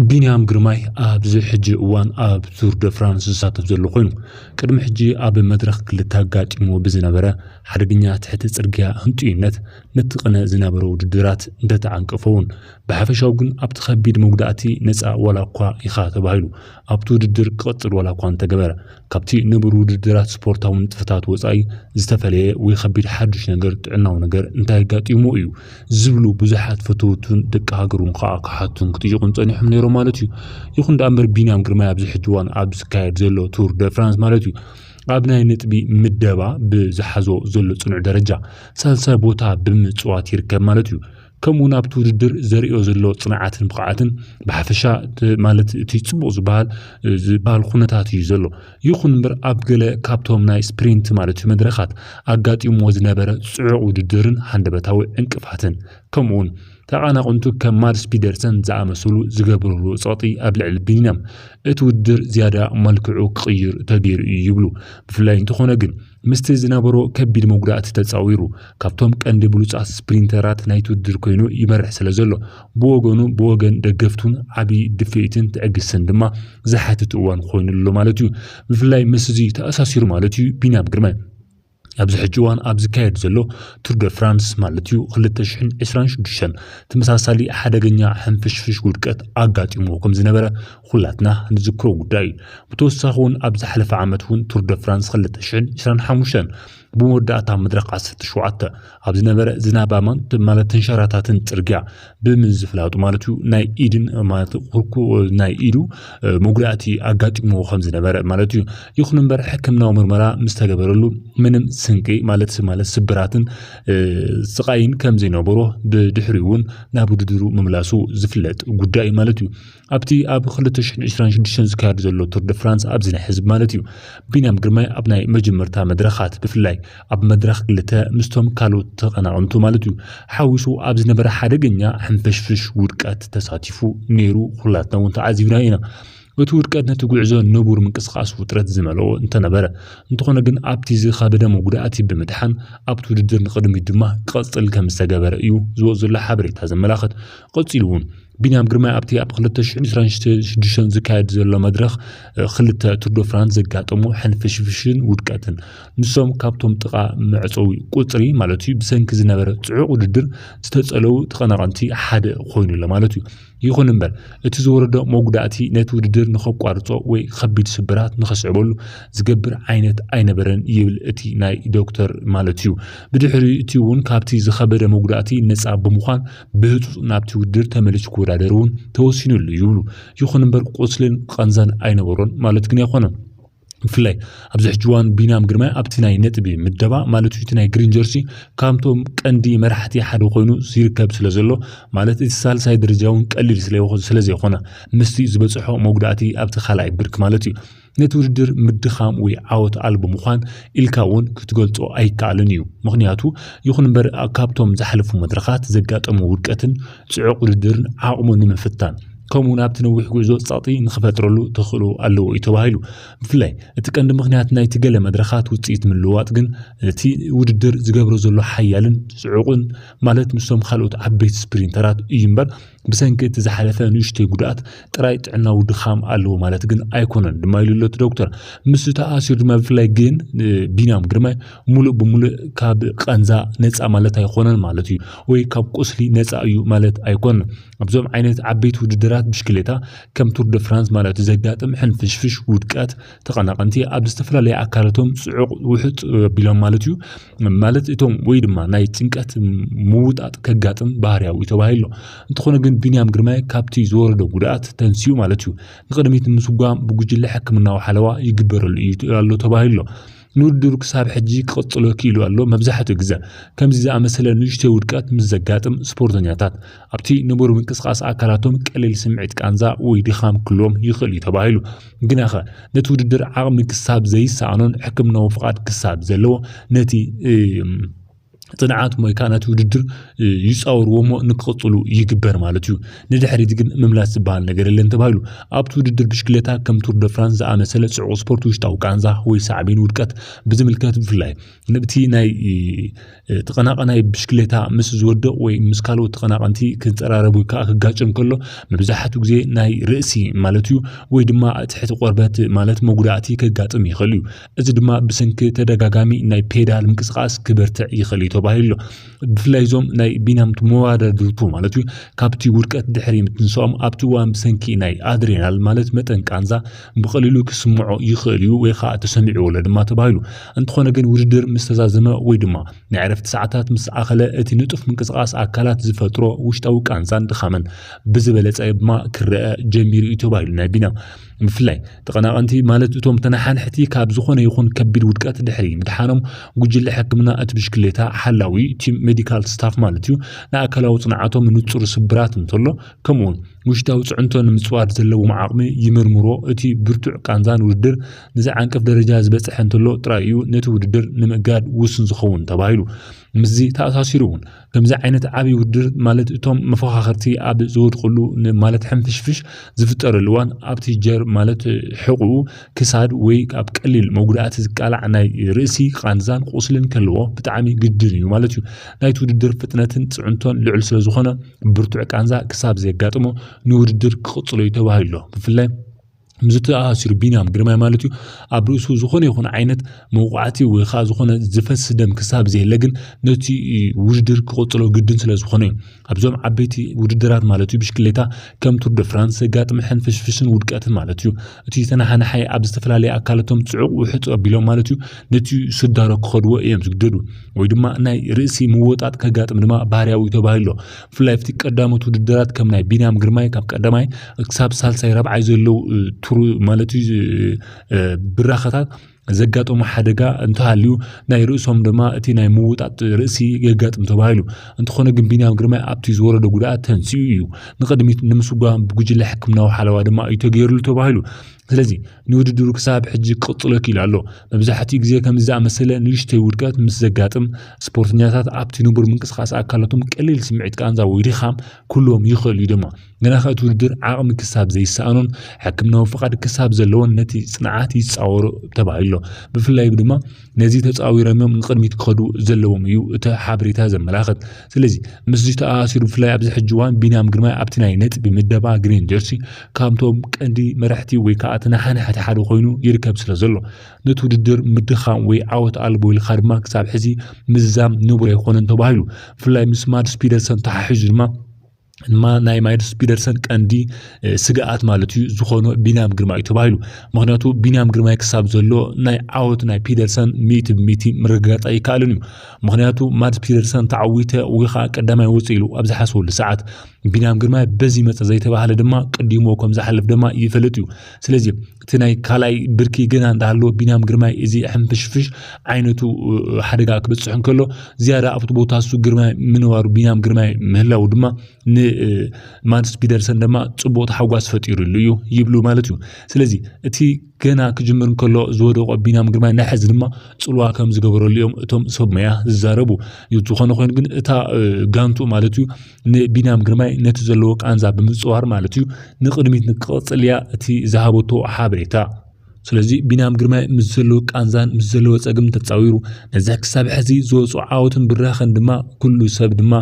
ቢንያም ግርማይ ኣብዚ ሕጂ እዋን ኣብ ዙር ደ ፍራንስ ዝሳተፍ ዘሎ ኮይኑ ቅድሚ ሕጂ ኣብ መድረኽ ክልተ ኣጋጢሞ ብዝነበረ ሓደገኛ ትሕቲ ጽርግያ ህንጡይነት ነቲ ቅነ ዝነበረ ውድድራት እንተተዓንቀፈ እውን ብሓፈሻው ግን ኣብቲ ከቢድ መጉዳእቲ ነጻ ዋላ እኳ ኢኻ ተባሂሉ ኣብቲ ውድድር ክቕጽል ዋላ እኳ እንተገበረ ካብቲ ንቡር ውድድራት ስፖርታዊ ንጥፈታት ወጻኢ ዝተፈለየ ወይ ከቢድ ሓድሽ ነገር፣ ጥዕናዊ ነገር፣ እንታይ ኣጋጢሙ እዩ? ዝብሉ ብዙሓት ፈተውቱን ደቂ ሃገሩን ከኣ ክሓቱን ክጥይቑን ጸኒሖም ነይሮም ማለት እዩ። ይኹን ደኣ እምበር ቢንያም ግርማይ ኣብዚ ሕጂ እዋን ኣብ ዝካየድ ዘሎ ቱር ደ ፍራንስ ማለት እዩ ኣብ ናይ ነጥቢ ምደባ ብዝሓዞ ዘሎ ጽኑዕ ደረጃ ሳልሳይ ቦታ ብምጽዋት ይርከብ ማለት እዩ። ከምኡውን ኣብቲ ውድድር ዘርእዮ ዘሎ ፅንዓትን ብቕዓትን ብሓፈሻ ማለት እቲ ፅቡቕ ዝበሃል ዝበሃል ኩነታት እዩ ዘሎ ይኹን እምበር ኣብ ገለ ካብቶም ናይ ስፕሪንት ማለት እዩ መድረኻት ኣጋጢምዎ ዝነበረ ፅዑቕ ውድድርን ሃንደበታዊ ዕንቅፋትን ከምኡውን ተቓናቕንቱ ከም ማድስ ፒደርሰን ዝኣመሰሉ ዝገብርሉ ፀቕጢ ኣብ ልዕሊ ቢኒያም እቲ ውድድር ዝያዳ መልክዑ ክቕይር ተገይሩ እዩ ይብሉ ብፍላይ እንተኾነ ግን ምስቲ ዝነበሮ ከቢድ መጉዳእቲ ተጻዊሩ ካብቶም ቀንዲ ብሉጻት ስፕሪንተራት ናይቲ ውድድር ኮይኑ ይመርሕ ስለዘሎ ብወገኑ ብወገን ደገፍቱን ዓቢ ድፍኢትን ትዕግስትን ድማ ዝሓትት እዋን ኮይኑ ኣሎ ማለት'ዩ። ብፍላይ ምስዚ ተኣሳሲሩ ማለት'ዩ ቢንያም ግርማይ ኣብዚ ሕጂ እዋን ኣብ ዝካየድ ዘሎ ቱር ደ ፍራንስ ማለት'ዩ ክልተ ሽሕን ዕስራን ሽዱሽተን ተመሳሳሊ ሓደገኛ ሕንፍሽፍሽ ውድቀት ኣጋጢምዎ ከምዝነበረ ኹላትና ንዝክሮ ጉዳይ እዩ። ብተወሳኺ እውን ኣብ ዝሓለፈ ዓመት እውን ቱር ደ ፍራንስ ክልተ ሽሕን ዕስራን ሓሙሽተን ብመወዳእታ መድረኽ ዓሰርተ ሸውዓተ ኣብ ዝነበረ ዝናባማን ማለት ተንሸራታትን ፅርግያ ብምዝፍላጡ ማለት እዩ ናይ ኢድን ማለት ኩርኩ ናይ ኢዱ መጉዳእቲ ኣጋጢሞ ከም ዝነበረ ማለት እዩ። ይኹን እምበር ሕክምናዊ ምርመራ ምስ ተገበረሉ ምንም ስንቂ ማለት ማለት ስብራትን እ፣ ስቓይን ከም ዘይነበሮ ብድሕሪኡ እውን ናብ ውድድሩ ምምላሱ ዝፍለጥ ጉዳይ እዩ ማለት እዩ። ኣብቲ ኣብ ክልተ ሽሕን ዕስራን ሽዱሽተን ዝካየድ ዘሎ ቱር ደ ፍራንስ ኣብዚ ናይ ሕዚ ማለት እዩ ቢንያም ግርማይ ኣብ ናይ መጀመርታ መድረኻት ብፍላይ ኣብ መድረኽ ክልተ ምስቶም ካልኦት ተቐናቕንቱ ማለት እዩ ሓዊሱ ኣብ ዝነበረ ሓደገኛ ሕንፍሽፍሽ ውድቀት ተሳቲፉ ነይሩ ኩላትና እውን ተዓዚብናዮ ኢና እቲ ውድቀት ነቲ ጉዕዞ ንቡር ምንቅስቓስ ውጥረት ዝመልኦ እንተነበረ እንተኾነ ግን ኣብቲ ዝኸበደ መጉዳእቲ ብምድሓን ኣብቲ ውድድር ንቕድሚት ድማ ክቐፅል ከምዝተገበረ እዩ ዝወፅ ዘሎ ሓበሬታ ዘመላኽት። ቐፂሉ እውን ቢንያም ግርማይ ኣብቲ ኣብ 2026 ዝካየድ ዘሎ መድረኽ ክልተ ቱርዶ ፍራንስ ዘጋጠሙ ሕንፍሽፍሽን ውድቀትን ንሶም ካብቶም ጥቓ መዕፀዊ ቁፅሪ ማለት እዩ ብሰንኪ ዝነበረ ፅዑቕ ውድድር ዝተፀለዉ ተቐናቐንቲ ሓደ ኮይኑ ኣሎ ማለት እዩ ይኹን እምበር እቲ ዝወረዶ መጉዳእቲ ነቲ ውድድር ንኸቋርፆ ወይ ከቢድ ስብራት ንኸስዕበሉ ዝገብር ዓይነት ኣይነበረን ይብል እቲ ናይ ዶክተር ማለት እዩ ብድሕሪ እቲ እውን ካብቲ ዝኸበደ መጉዳእቲ ነፃ ብምዃን ብህፁፅ ናብቲ ውድድር ተመሊሱ ክወዳደር እውን ተወሲኑሉ ይብሉ። ይኹን እምበር ቁስልን ቐንዛን ኣይነበሮን ማለት ግን ኣይኮነን። ብፍላይ ኣብዚ ሕጂ እዋን ቢንያም ግርማይ ኣብቲ ናይ ነጥቢ ምደባ ማለት እቲ ናይ ግሪን ጀርሲ ካብቶም ቀንዲ መራሕቲ ሓደ ኮይኑ ይርከብ ስለ ዘሎ ማለት እቲ ሳልሳይ ደረጃ እውን ቀሊል ስለ ዘይኮነ ምስቲ ዝበፅሖ መጉዳእቲ ኣብቲ ካልኣይ ብርኪ ማለት እዩ ነቲ ውድድር ምድኻም ወይ ዓወት ኣልቦ ምዃን ኢልካ እውን ክትገልጾ ኣይከኣልን እዩ። ምኽንያቱ ይኹን እምበር ካብቶም ዝሓለፉ መድረኻት ዘጋጠሞ ውድቀትን ጽዑቕ ውድድርን ዓቕሙ ንምፍታን ከምኡ እውን ኣብቲ ነዊሕ ጉዕዞ ጸቕጢ ንኽፈጥረሉ ተኽእሎ ኣለዎ እዩ ተባሂሉ። ብፍላይ እቲ ቀንዲ ምኽንያት ናይቲ ገለ መድረኻት ውጽኢት ምልውዋጥ ግን እቲ ውድድር ዝገብሮ ዘሎ ሓያልን ጽዑቕን ማለት ምስቶም ካልኦት ዓበይቲ ስፕሪንተራት እዩ እምበር ብሰንኪ እቲ ዝሓለፈ ንእሽተይ ጉድኣት ጥራይ ጥዕናዊ ድኻም ኣለዎ ማለት ግን ኣይኮነን ድማ ኢሉ ኣሎ እቲ ዶክተር። ምስ ተኣሲሩ ድማ ብፍላይ ግን ቢንያም ግርማይ ሙሉእ ብሙሉእ ካብ ቃንዛ ነፃ ማለት ኣይኾነን ማለት እዩ ወይ ካብ ቁስሊ ነፃ እዩ ማለት ኣይኮነን። ኣብዞም ዓይነት ዓበይቲ ውድድራት ብሽክሌታ ከም ቱር ደ ፍራንስ ማለት እዩ ዘጋጥም ሕንፍሽፍሽ፣ ውድቀት፣ ተቐናቐንቲ ኣብ ዝተፈላለዩ ኣካላቶም ፅዑቕ ውሕጥ ኣቢሎም ማለት እዩ ማለት እቶም ወይ ድማ ናይ ጭንቀት ምውጣጥ ከጋጥም ባህርያዊ ተባሂሎ እንተኾነ ግን ቢንያም ግርማይ ካብቲ ዝወረዶ ጉድኣት ተንስኡ ማለት እዩ ንቅድሚት ንምስጓም ብጉጅለ ሕክምናዊ ሓለዋ ይግበረሉ እዩ ኣሎ ተባሂሎ ንውድድሩ ክሳብ ሕጂ ክቕጽሎ ክኢሉ ኣሎ መብዛሕትኡ ግዘ ከምዚ ዝኣመሰለ ንእሽተይ ውድቀት ምስ ዘጋጥም ስፖርተኛታት ኣብቲ ንቡር ምንቅስቓስ ኣካላቶም ቀሊል ስምዒት ቃንዛ ወይ ድኻም ክህልዎም ይኽእል እዩ ተባሂሉ። ግናኸ ነቲ ውድድር ዓቕሚ ክሳብ ዘይሰኣኖን ሕክምናዊ ፍቓድ ክሳብ ዘለዎ ነቲ ጽንዓት ወይ ከዓ ነቲ ውድድር ይፃወርዎ እሞ ንክቕፅሉ ይግበር ማለት እዩ ንድሕሪት ግን ምምላስ ዝበሃል ነገር የለን ተባሂሉ ኣብቲ ውድድር ብሽክሌታ ከም ቱር ደ ፍራንስ ዝኣመሰለ ፅዑቕ ስፖርት ውሽጣዊ ቃንዛ ወይ ሳዕቤን ውድቀት ብዝምልከት ብፍላይ ንብቲ ናይ ተቐናቐናይ ብሽክሌታ ምስ ዝወድቕ ወይ ምስ ካልኦት ተቐናቐንቲ ክፀራረብ ወይ ከዓ ክጋጨም ከሎ መብዛሕትኡ ግዜ ናይ ርእሲ ማለት እዩ ወይ ድማ ትሕቲ ቆርበት ማለት መጉዳእቲ ከጋጥም ይኽእል እዩ። እዚ ድማ ብሰንኪ ተደጋጋሚ ናይ ፔዳል ምንቅስቓስ ክበርትዕ ይኽእል እዩ ተባሂሉ ኣሎ። ብፍላይ እዞም ናይ ቢናምቱ መወዳድርቱ ማለት እዩ ካብቲ ውድቀት ድሕሪ ምትንሳኦም ኣብቲ እዋን ብሰንኪ ናይ ኣድሬናል ማለት መጠን ቃንዛ ብቐሊሉ ክስምዖ ይኽእል እዩ ወይ ከዓ ተሰሚዕዎለ ድማ ተባሂሉ እንተኾነ ግን ውድድር ምስ ተዛዘመ ወይ ድማ ናይ ዕረፍቲ ሰዓታት ምስ ኣኸለ እቲ ንጡፍ ምንቅስቓስ ኣካላት ዝፈጥሮ ውሽጣዊ ቃንዛን ድኻምን ብዝበለፀ ድማ ክረአ ጀሚሩ እዩ ተባሂሉ ናይ ቢንያም ብፍላይ ተቐናቐንቲ ማለት እቶም ተነሓንሕቲ ካብ ዝኾነ ይኹን ከቢድ ውድቀት ድሕሪ ምድሓኖም ጉጅለ ሕክምና እቲ ብሽክሌታ ሓላዊ ቲም ሜዲካል ስታፍ ማለት እዩ ንኣካላዊ ፅንዓቶም ንፁር ስብራት እንተሎ ከምኡውን ውሽጣዊ ጽዕንቶ ንምጽዋር ዘለዎም ዓቕሚ ይምርምሮ። እቲ ብርቱዕ ቃንዛን ውድድር ንዚ ዓንቀፍ ደረጃ ዝበጽሐ እንተሎ ጥራይ እዩ ነቲ ውድድር ንምእጋድ ውሱን ዝኸውን ተባሂሉ። ምስዚ ተኣሳሲሩ እውን ከምዚ ዓይነት ዓቢ ውድድር ማለት እቶም መፈኻኸርቲ ኣብ ዝወድቕሉ ማለት ሕንፍሽፍሽ ዝፍጠረሉ እዋን ኣብቲ ጀር ማለት ሕቕኡ ክሳድ ወይ ኣብ ቀሊል መጉዳእቲ ዝቃላዕ ናይ ርእሲ ቃንዛን ቁስልን ከለዎ ብጣዕሚ ግድን እዩ ማለት እዩ። ናይቲ ውድድር ፍጥነትን ፅዕንቶን ልዑል ስለዝኾነ ብርቱዕ ቃንዛ ክሳብ ዘየጋጥሞ ንውድድር ክቕፅሎ እዩ ተባሂሉ ኣሎ። ብፍላይ ምስዚ ተኣሳሲሩ ቢንያም ግርማይ ማለት እዩ ኣብ ርእሱ ዝኾነ ይኹን ዓይነት መውቃዕቲ ወይ ከዓ ዝኾነ ዝፈስ ደም ክሳብ ዘየለ ግን ነቲ ውድድር ክቕፅሎ ግድን ስለዝኾነ እዩ ኣብዞም ዓበይቲ ውድድራት ማለት እዩ ብሽክሌታ ከም ቱር ደ ፍራንስ ዘጋጥም ሕንፍሽፍሽን ውድቀትን ማለት እዩ እቲ ተነሓናሓይ ኣብ ዝተፈላለየ ኣካለቶም ፅዑቕ ውሕፅ ኣቢሎም ማለት እዩ ነቲ ስዳሮ ክኸድዎ እዮም ዝግደዱ ወይ ድማ ናይ ርእሲ ምወጣጥ ከጋጥም ድማ ባህርያዊ ተባሂሎ ብፍላይ ኣብቲ ቀዳሞት ውድድራት ከም ናይ ቢንያም ግርማይ ካብ ቀዳማይ ክሳብ ሳልሳይ ራብዓይ ዘለው ቱር ማለት እዩ ብራኸታት ዘጋጠሙ ሓደጋ እንተሃልዩ ናይ ርእሶም ድማ እቲ ናይ ምውጣጥ ርእሲ የጋጥም ተባሂሉ እንተኾነ ግን ቢንያም ግርማይ ኣብቲ ዝወረደ ጉድኣት ተንስኡ እዩ ንቕድሚት ንምስጓም ብጉጅለ ሕክምናዊ ሓለዋ ድማ እዩ ተገይርሉ ተባሂሉ ስለዚ ንውድድሩ ክሳብ ሕጂ ክቕጽሎ ክኢሉ ኣሎ መብዛሕትኡ ግዜ ከምዚ ዝኣመሰለ ንእሽተይ ውድቀት ምስ ዘጋጥም ስፖርተኛታት ኣብቲ ንቡር ምንቅስቓስ ኣካላቶም ቀሊል ስምዒት ቃንዛ ወይ ድኻም ክህልዎም ይኽእል እዩ ድማ ግናኸ እቲ ውድድር ዓቕሚ ክሳብ ዘይሰኣኖን ሕክምናዊ ፍቓድ ክሳብ ዘለዎን ነቲ ጽንዓት ይጻወሮ ተባሂሎ። ብፍላይ ድማ ነዚ ተጻዊረምዮም ንቕድሚት ክኸዱ ዘለዎም እዩ እቲ ሓበሬታ ዘመላኽት። ስለዚ ምስዚ ተኣኣሲሩ ብፍላይ ኣብዚ ሕጂ እዋን ቢንያም ግርማይ ኣብቲ ናይ ነጥቢ ምደባ ግሪን ጀርሲ ካብቶም ቀንዲ መራሕቲ ወይ ከኣ ተነሓናሕቲ ሓደ ኮይኑ ይርከብ ስለዘሎ ነቲ ውድድር ምድኻም ወይ ዓወት ኣልቦ ኢልካ ድማ ክሳብ ሕዚ ምዝዛም ንቡር ኣይኮነን ተባሂሉ። ብፍላይ ምስ ማድስ ፒደርሰን ተሓሒዙ ድማ ድማ ናይ ማይልስ ፒደርሰን ቀንዲ ስግኣት ማለት እዩ ዝኾኖ ቢንያም ግርማይ እዩ ተባሂሉ ምክንያቱ ቢንያም ግርማይ ክሳብ ዘሎ ናይ ዓወት ናይ ፒደርሰን ሚእቲ ብሚእቲ ምርግጋፅ ኣይከኣልን እዩ ምክንያቱ ማት ፒደርሰን ተዓዊተ ወይ ከዓ ቀዳማይ ወፅ ኢሉ ኣብ ዝሓስበሉ ሰዓት ቢንያም ግርማይ በዚ መፀ ዘይተባህለ ድማ ቅዲሞ ከም ዝሓልፍ ድማ ይፈልጥ እዩ ስለዚ እቲ ናይ ካልኣይ ብርኪ ገና እንዳሃለወ ቢንያም ግርማይ እዚ ሕንፍሽፍሽ ዓይነቱ ሓደጋ ክበፅሑ እንከሎ ዝያዳ ኣብቲ ቦታ እሱ ግርማይ ምንባሩ ቢንያም ግርማይ ምህላው ድማ ንማትስ ፒደርሰን ድማ ፅቡቅ ተሓጓስ ፈጢሩሉ እዩ ይብሉ ማለት እዩ ስለዚ እቲ ገና ክጅምር እንከሎ ዝወደቆ ቢንያም ግርማይ ናይ ሕዚ ድማ ፅልዋ ከም ዝገበረሉ እዮም እቶም ሰብ መያ ዝዛረቡ ዝኾነ ኮይኑ ግን እታ ጋንቱ ማለት እዩ ንቢንያም ግርማይ ነቲ ዘለዎ ቃንዛ ብምፅዋር ማለት እዩ ንቅድሚት ንክቐፅል እያ እቲ ዝሃበቶ ሓበሬታ ስለዚ ቢንያም ግርማይ ምስ ዘለዎ ቃንዛን ምስ ዘለዎ ፀግም ተፃዊሩ ነዚ ክሳብ ሕዚ ዝወፁ ዓወትን ብራኸን ድማ ኩሉ ሰብ ድማ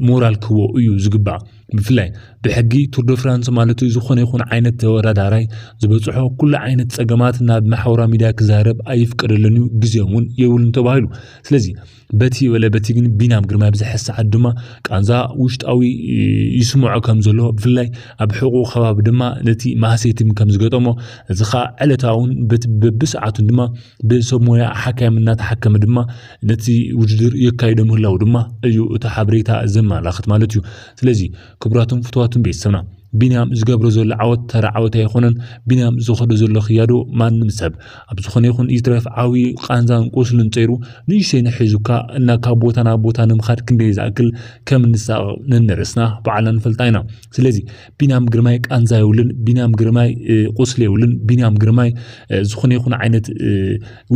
ሞራል ክህቦ እዩ ዝግባእ ብፍላይ ብሕጊ ቱርዶ ፍራንስ ማለት እዩ ዝኾነ ይኹን ዓይነት ተወዳዳራይ ዝበፅሖ ኩሉ ዓይነት ፀገማት ናብ ማሕበራዊ ሚዲያ ክዛረብ ኣይፍቀደልን እዩ ግዜ እውን የብሉን ተባሂሉ ስለዚ በቲ ወለ በቲ ግን ቢናም ግርማይ ብዘሐ ሰዓት ድማ ቃንዛ ውሽጣዊ ይስምዖ ከም ዘሎ ብፍላይ ኣብ ሕቑ ከባቢ ድማ ነቲ ማህሰይቲም ከም ዝገጠሞ እዚ ከዓ ዕለታውን በቲ በብሰዓቱን ድማ ብሰብ ሞያ ሓካይም እናተሓከመ ድማ ነቲ ውድድር የካይዶ ምህላው ድማ እዩ እቲ ሓበሬታ ዘመላኽት ማለት እዩ ስለዚ ክቡራትን ፍትዋትን ቤተሰብና ቢንያም ዝገብሮ ዘሎ ዓወት ተራ ዓወት ኣይኮነን። ቢንያም ዝኸዶ ዘሎ ክያዶ ማንም ሰብ ኣብ ዝኾነ ይኹን ይትረፍ ዓብዩ ቃንዛን ቁስልን ፀይሩ ንእሽተይ ንሒዙካ እና ካብ ቦታ ናብ ቦታ ንምኻድ ክንደይ ዝኣክል ከም እንሳቐቕ ነንርእስና በዓልና ንፈልጣ ኢና። ስለዚ ቢንያም ግርማይ ቃንዛ የብሉን፣ ቢንያም ግርማይ ቁስሊ የብሉን፣ ቢንያም ግርማይ ዝኾነ ይኹን ዓይነት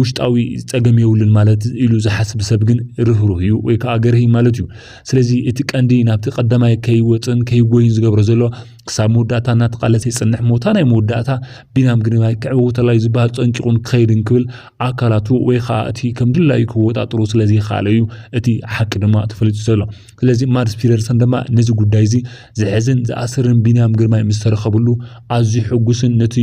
ውሽጣዊ ፀገም የብሉን ማለት ኢሉ ዝሓስብ ሰብ ግን ርህሩህ እዩ ወይ ከዓ ገርሂ ማለት እዩ። ስለዚ እቲ ቀንዲ ናብቲ ቀዳማይ ከይወፅእን ከይጎይን ዝገብሮ ዘሎ ክሳብ መወዳእታ እናተቃለሰ ይፅንሕ ሞታ ናይ መወዳእታ ቢናም ግርማይ ክዕወተላ እዩ ዝበሃል ፀንቂቑን ክኸይድ እንክብል ኣካላቱ ወይ ከዓ እቲ ከም ድላዩ ክወጣጥሩ ስለዘይከኣለ እዩ እቲ ሓቂ ድማ ተፈሊጡ ዘሎ ስለዚ ማድስ ፒደርሰን ድማ ነዚ ጉዳይ እዚ ዝሕዝን ዝኣስርን ቢናም ግርማይ ምስ ተረኸብሉ ኣዝዩ ሕጉስን ነቲ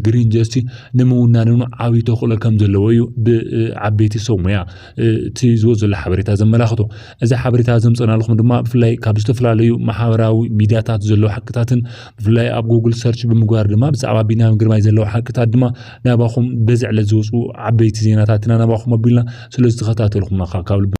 ግሪን ጀስቲ ንምውናንን ዓብዪ ተኽእሎ ከም ዘለዎ እዩ ብዓበይቲ ሰብ ሙያ እቲ ዝወፅ ዘሎ ሓበሬታ ዘመላኽቶ እዚ ሓበሬታ ዘምፀናልኹም ድማ ብፍላይ ካብ ዝተፈላለዩ ማሕበራዊ ሚድያታት ዘለዉ ሓቅታትን ብፍላይ ኣብ ጉግል ሰርች ብምግባር ድማ ብዛዕባ ቢንያም ግርማይ ዘለዉ ሓቅታት ድማ ናባኹም በዚ ዕለት ዝወፁ ዓበይቲ ዜናታትና ናባኹም ኣቢልና ስለዝተኸታተልኹምና ካብ ልቢ